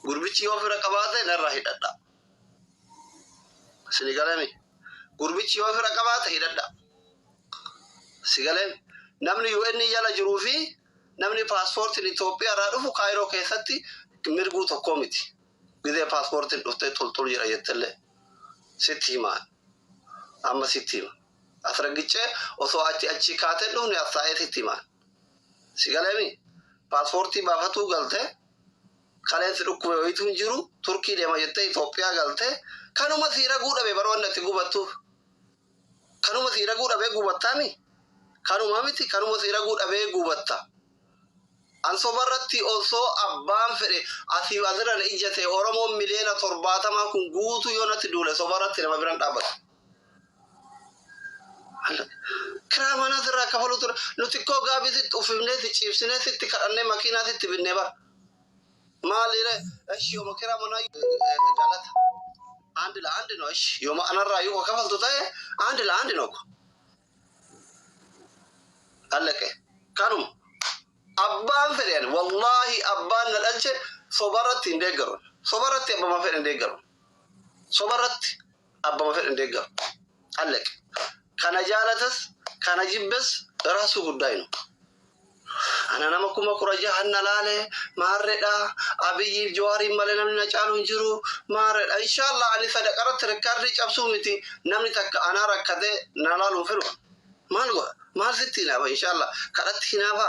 Gurbichi yoo fira qabaate narraa hidhadhaa. Sini galame. Gurbichi yoo fira qabaate hidhadhaa. Si galame. Namni UN jala jiruu fi namni paaspoortiin Itoophiyaa irraa dhufu Kaayiroo keessatti mirguu tokkoo miti. Gizee paaspoortiin dhuftee xulxul jira jettellee sitti himaa. Amma sitti hima. As raggicee osoo achi achi kaatee dhufne as taa'ee sitti himaa. Si galame. Paaspoortii baafatuu galtee Kaleen si dhukkube wayitu hin jiru Turkii deema jettee Itoophiyaa galte kanuma sii raguu dhabe bara wanni ati gubattu kanuma sii raguu dhabee gubattaami kanuma miti kanuma sii raguu dhabee gubatta ansoba irratti osoo abbaan fedhe asii asirra na ijjate Oromoon miliyoona torbaatamaa kun guutuu yoo natti duule soba irratti nama biran dhaabbatu. Kiraa manaa sirraa kafaluu ture. Nuti koo gaabii sitti uffifnee si ciibsinee sitti kadhannee makiinaa sitti binnee bara. Maaliire eshi yooma kiraa manaa galata. Andi la andi no eshi yooma anarraa yoo kafaltu ta'e andi la andi no ko. Allaqe kanuma. Abbaan fedhe ani wallaahi abbaan na dhalche sobarratti hin deeggaru. Sobarratti abbama fedhe hin deeggaru. Sobarratti. abbama fedhen deeggaru. Allek. Kana jaalatas kana jibbes rasu guddaa hin umu. Ana nama kuma kura jahan na laale maarredha Abiyyiif Jawaariin malee namni na caalu hin jiru maarredha. Inshallah ani sadaqarratti rikkaardii cabsuu miti namni takka anaa rakkatee na laaluu fedhu maal godha maal sitti hinaafa inshallah kadhatti hinaafa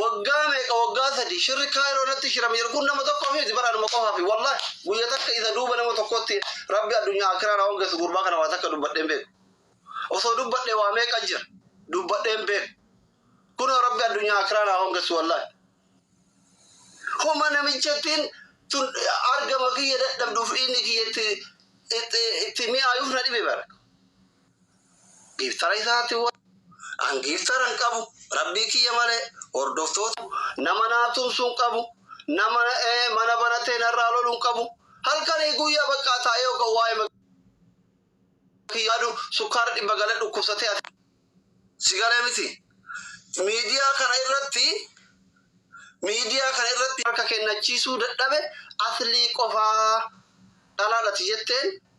Waggaa meeqa waggaa sadii shirri Cairo irratti shirame jiru kun nama tokkoofi miti bara anuma qofaafi wallahi guyya takka isa duuba nama tokkootti rabbi addunyaa akiraa na hongeessu gurbaa kana waa takka dubbadhee hin beeku osoo dubbadhe waa meeqa jira dubbadhee hin beeku kunoo rabbi addunyaa akiraa na hongeessu wallahi homa namichattiin tun argama kiyya dadhabduuf dhiinni kiyya itti itti itti mi'aayuuf na dhibe bara Giftara isaatti wal. An giftara hin qabu. Rabbii kiyya malee hordoftoota. Nama naa tumsu hin qabu. Nama mana banatee narraa lolu hin qabu. Halkanii guyyaa baqqaa taa'ee hogga waa'ee maqaa kiyya yaadu sukkaara dhibba galee dhukkubsatee ati. Si galee miti. Miidiyaa kana irratti miidiyaa kana irratti. Harka kennachiisuu dadhabe Aslii qofaa. Dhalaadhati jetteen.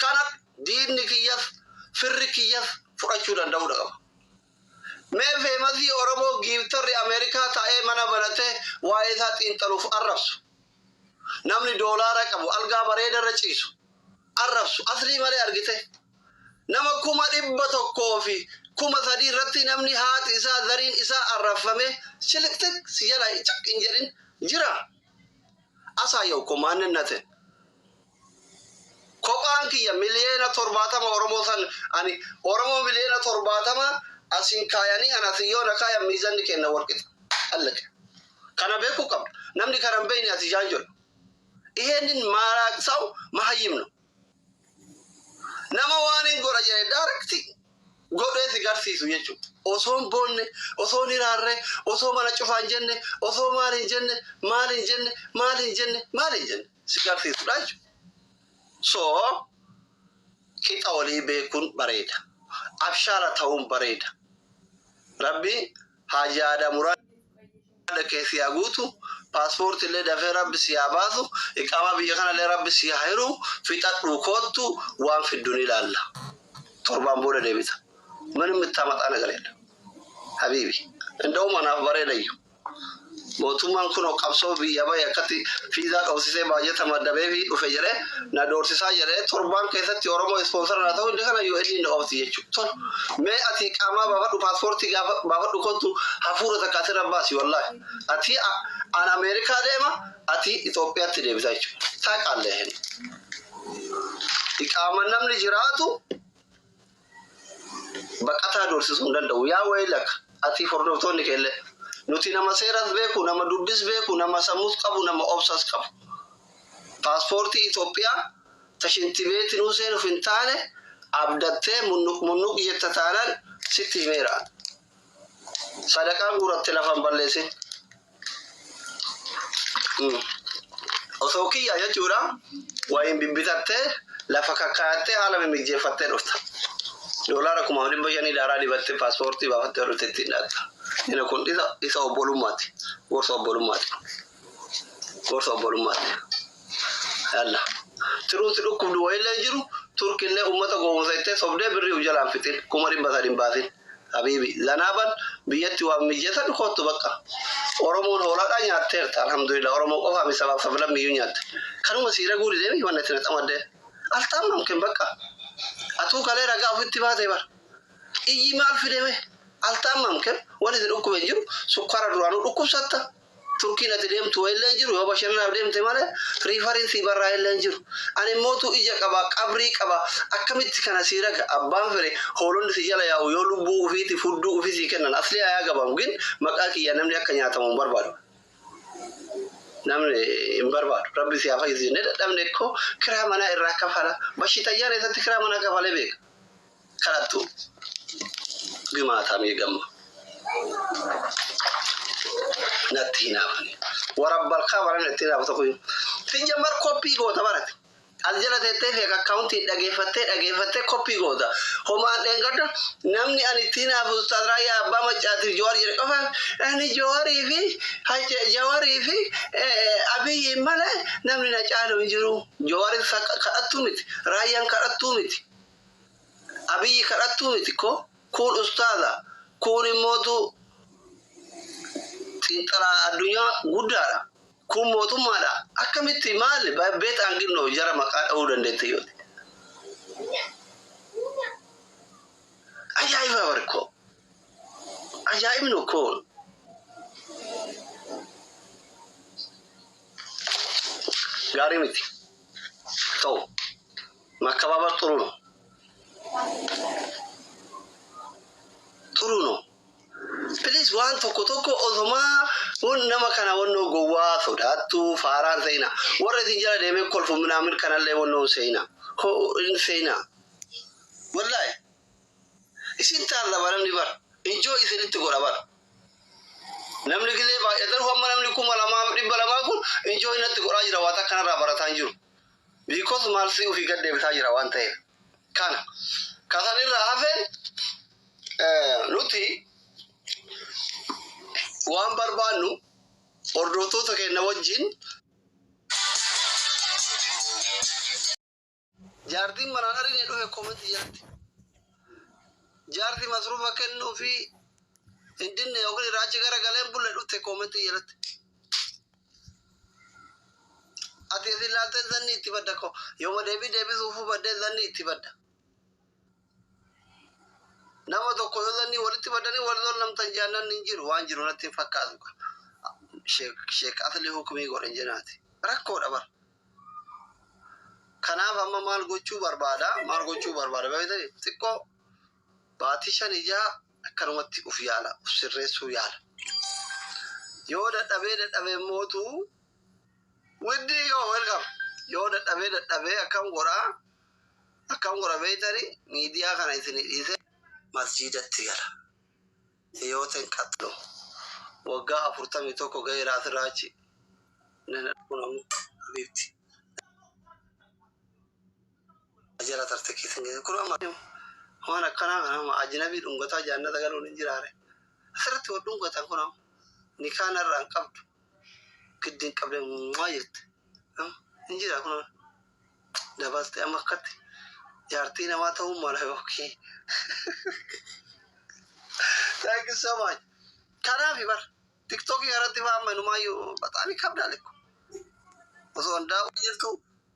kana diinni kiyyaf firri kiyyaf fudhachuu danda'uudha qaba. Mee feemasii Oromoo giiftarri Ameerikaa taa'ee mana banatee waa'ee isaa xiinxaluuf arrabsu, namni doolaara qabu algaa bareedarra ciisu arrabsu aslii malee argitee? Nama kuma dhibba tokkoo fi kuma sadii irratti namni haati isaa zariin isaa arrabfamee shiliqxiq si jalaa caq hin jedhin jiraa? Asaayawko maanninatin. Kophaan kiyya miliyoona 70 Oromoo san ani Oromoo miliyoona 70 asin kaayanii an asin yoo na kaayan miizanni keenna wal qixa. Allaqe. Kana beekuu qabda. Namni kana hin beeyne ati jaanjodha. Iheennin maaraaqsaw mahayyim no. Nama waanin godha jedhe direct godhee si garsiisu jechu. Osoo hin boonne, osoo hin hiraarre, osoo mana cufaan jenne, osoo maal hin jenne, maal hin jenne, maal hin jenne, maal hin jenne. si garsiisudha jechuudha. So qixa walii beekuun bareeda. Abshaala ta'uun bareeda. Rabbi Haaji Aadam muraada kee si haa guutu. Paaspoortii illee dafee rabbi si haa baasu. Iqaamaa biyya kana illee rabbi si haa hiru. Fixadhuu koottu waan fiddu ni ilaalla. Torbaan booda deebita. Manim mittaa maxaa nagar jedha. Habiibi. Inda'uma naaf bareedayyu. Mootummaan kunoo qabsoo biyyaa bahe akkatti fiizaa dhoofsisee baajata maddabeefii dhufe jedhee na doorsisaa jedhee torbaan keessatti Oromoo ispoonsara naa ta'uu dide kana UN na oofti jechuu tol mee ati qaamaa baafadhu paaspoortii gaafa baafadhu kottu hafuura takka asirra baasi wallaahi ati an Ameerikaa deema ati Itoophiyaatti deebita jechuu taaqaallee hin iqaama namni jiraatu Baqataa doorsisuu hin danda'u. Yaa waylaka atii fordoftoonni keelle. Nuti nama seeras beeku, nama dubbis beeku, nama sammus qabu, nama obsas qabu. Paaspoortii Itoophiya ta shintibeetinuu seenuf hin taane abdattee munnuq munnuq jetta taanan sitti himeera. Sadaqaa guuratti lafa hin balleessin. Mm. Osoo kiyya jechuudha wayiin bibbitattee lafa kakkaayattee haala mimmijeeffattee dhufta. Doolaara kumaaf dhibba shanii daaraa dibattee paaspoortii baafattee ol itti hidhatta. Inni kun isa isa obbolummaati. Gorsa obbolummaati. Gorsa obbolummaati. Yalla. Tiruun si dhukkubdu wayillee hin jiru. Turkillee uummata gowwoomsa jettee sobdee birrii of jalaan fixin. Kuma dhibba sadi hin baasin. Habiibi. Zanaaban biyyatti waan mijatan koottu baqqa. Oromoon hoolaadhaa nyaatteerta alhamdulillah oromoo qofaa mi sabaaf sablammiiyyuu nyaatte. Kanuma sii raguu didee mi wanni ati na xamaddee. Altaamnam ken baqqa. Atuu kalee ragaa ofitti baatee bar. Iyyi maal fide mee. Altaamnam ken wani si dhukkuben jiru sukkaara duraanuu dhukkubsatta Turkiin ati deemtu wayillee hin jiru, yoo bashannanaaf deemte malee riifariin sii barraa'ellee hin jiru. Ani immootuu ija qaba, qabrii qaba, akkamitti kana sii raga? Abbaan fedhe hoolonni si jala yaa'u yoo lubbuu ufiitiif hudduu ufii sii kennan aslii haa yaagabamu gin maqaa kiyyaan namni akka nyaatamu hin barbaadu. Namni hin barbaadu. Rabbi sii haa fayyisu jennee dadhabne kko kiraa manaa irraa kafala. Bashitayyaan eessatti kiraa manaa kafalee beeka? Kanattu gimaata mee gamma natti hinaafani wara barkaa bara natti hinaafa tokko hin sijjambar koppii goota barati as jala teettee feek akkaawuntiin dhageeffattee dhageeffattee koppii goota homaan dheengadda namni ani itti hinaafu ustaaz raayyaa abbaa maccaatiif jawaar jedhe qofa ani jawarii fi Hajja- jawarii fi eh, abiyyiin malee namni na caalu hin jiru jawaarin sa- kadhattuu miti raayyaan kadhattuu miti Abiyi kadhattuu miti ko kuun ustaaza kuun immootu xiinxalaa addunyaa guddaadha kuun mootummaadha akkamitti maali by bet and ginno jara maqaa dhawuu dandeette yooti ajaa'ibaa bari ko ajaa'ibnu kuun gaarii miti ta'u. Makkababar xuru no. Xuru no. Please waan tokko tokko osoma wan nama kana wannoo gowwaa sodaattu faaraan seina warra isin jala deemee kolfu minaamin kanallee wannoo hin seina ho hin seina wallahi isin taarraba namni bar enjoy isinitti godha bar namni gizee baay'atan ho amma namni kuma lamaa fi dhibba lamaa kun enjoy natti godhaa jira waa takka narraa barataa hin jiru Because maal si ofii gad deebisaa jira waan ta'eef. Kana. Ka san irraa hafe nuti waan barbaannu hordoftoota keenya wajjin jaartiin manaan arine dhufe comment jalatti jaarti masruufa kennuu fi hin dinne yookiin irraa achi gara galeen bulle dhufte comment jalatti. Ati isin laattee zanni itti badda ko yooma deebii deebisuuf hubaddee zanni itti badda. Nama tokko yoo zanni walitti baddanii wal zollamtan jaannan hin jiru waan jiru natti hin fakkaatu. Sheek Asli hukumii godhan jenaati. Rakkoodha bara. Kanaaf amma maal gochuu barbaada maal gochuu barbaada beektanii xiqqoo Baatii 5 fi 6 akkanumatti uf yaala, uf sirreessuu yaala. Yoo dadhabee dadhabee immootu widdii yoo welcome yoo dadhabee dadhabee akkam godha akkam godha beeytani miidiyaa kana isinii dhiisee masjiidatti gala. Hiyooten qaxxo waggaa 41 gaheera asirraa achi. Nana kun ammoo habiibti. Jala tarte keessa hin geessin. Kun amma waan akkanaa kana amma ajnabii dhungataa jaannata galuun hin jiraare. Asirratti wal dhungatan kun amma nikaa narraa hin qabdu. Giddi hin qabne muummaa jette. Hin jira kun dabalte amma akkatti jaartii namaa ta'uu mala yookiin. Thank you so much. Kanaaf bar tiktookii irratti waan manumaayyuu bataamii qabdaa lekko. Osoo hundaa'uu jirtu